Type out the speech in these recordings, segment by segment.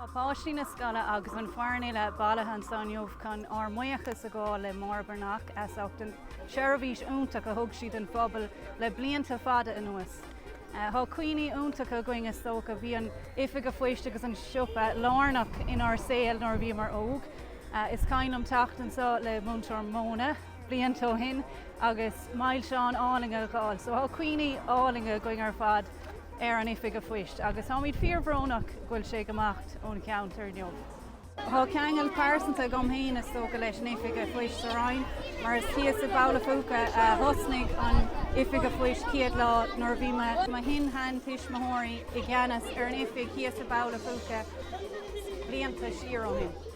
Tá páistí na scoile agus an foireann uile bailithe anseo inniu chun ár mbuíochas a ghabháil le Máire Breathnach as ucht an tseirbhís iontach a thug sí don phobal le blianta fada anuas. Tá cuimhní iontacha againn is dócha. Bhí an oifig a' phoist agus an siopa lárnach inár saol nuair a bhíomar óg. Is cuimhin liom teacht anseo le Muintir Móna. blianta ó shin agus milseáin álainn a dh'fháil. So tá cuimhní álainn againn ar fad ar an oifig a' phoist agus táimid fíor bhrónach go bhfuil sé ag imeacht ón cheantar inniu. Tá ceangal pearsanta agam fhéin is dócha leis an oifig a' phoist sa Rinn mar is thíos i mBaile Uí Phúca a thosnaigh an oifig a' phoist chéad lá nuair a bhí mo shin-sheantuismitheoirí i gceannas ar an oifig thíos i mBaile Uí Phúca blianta siar ó shin.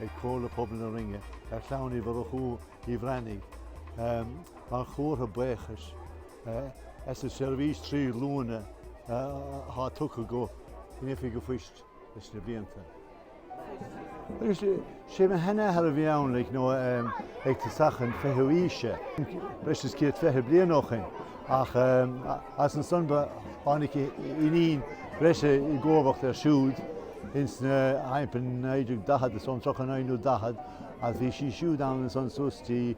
ag Comhairle Pobail na Rinne ar chlann Uí Mhurchú, Uí Bhreathnaigh, mar chomhartha buíochais as an tseirbhís trí ghlúine atá tugtha don oifig a' phoist leis na blianta. Agus sé mo shin-sheanathair a bhí ann ag tosach an fichiú haoise, breis is céad fiche bliain ó shin, ach as ansan tháinig iníon breise i gcomharbacht air siúd. Ins na 1940 is ón 39 nó 40 a bhí sí siúd ann is anso suas dtí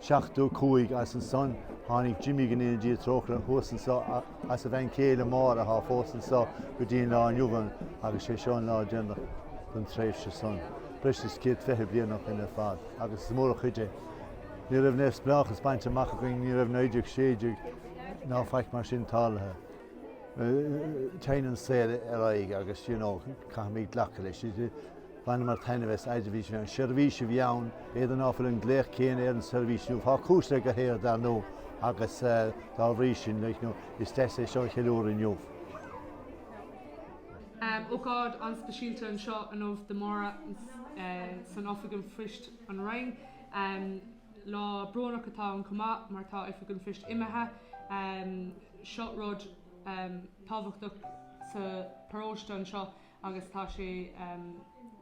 75 as ansan tháinig Jimmy go ndéana Dia trócaire thuas ansan is a bhean chéile Máire athá fós anso go dtí an lá inniu ann agus sé seo an lá déanach don tréimhse san. Breis is céad fiche blianach ar fad agus is mór an chuid é. Ní raibh neamhspleáchas bainte amach againn, ní raibh 1916 ná faic mar sin tarlaithe. Téann an saol ar aghaidh agus, you know, caithfimid glacadh leis. Bhaineamar taitneamh as you see an seirbhís a bhí ann, n'fheadar an bhfuil an glaoch céanna ar an seirbhís inniu. Tá cúrsaí go léir dar ndó agus dá bhrí sin, like, you know, is deas é seo a cheiliúradh inniu. Ócáid an-speisialta anseo inniu do Máire san Oifig an Phoist an Rinn. Lá brónach atá ann chomh maith mar tá Oifig an Phoist imithe. Seo rud tábhachtach sa paróiste anseo agus tá sé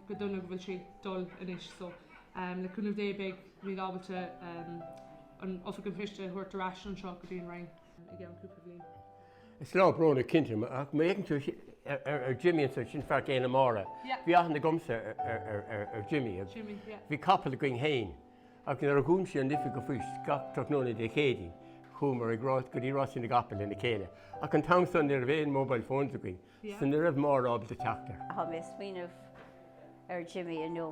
go dona go bhfuil sé ag dul anois so le cúnamh Dé beidh muid ábalta an Oifig an Phoist a thabhairt ar ais anseo go dtí an Rinn i gceann cúpla bhliain. Is lá brónach cinnte é ach má fhéacann tú ar Jimmy ansan, sin fear céile Máire, bhí aithne agamsa ar Jimmy, bhí capall againn fhéin. Ach nuair a dhún sé an oifig a' phoist gach tráthnóna Dé Céadaoin, chuamar ag rás go dtí Rásaí na gCapall lena chéile. Ach an t-am san ní raibh aon mobile phones againn, so ní raibh Máire ábalta teacht air. Tá mé ag smaoineamh ar Jimmy inniu.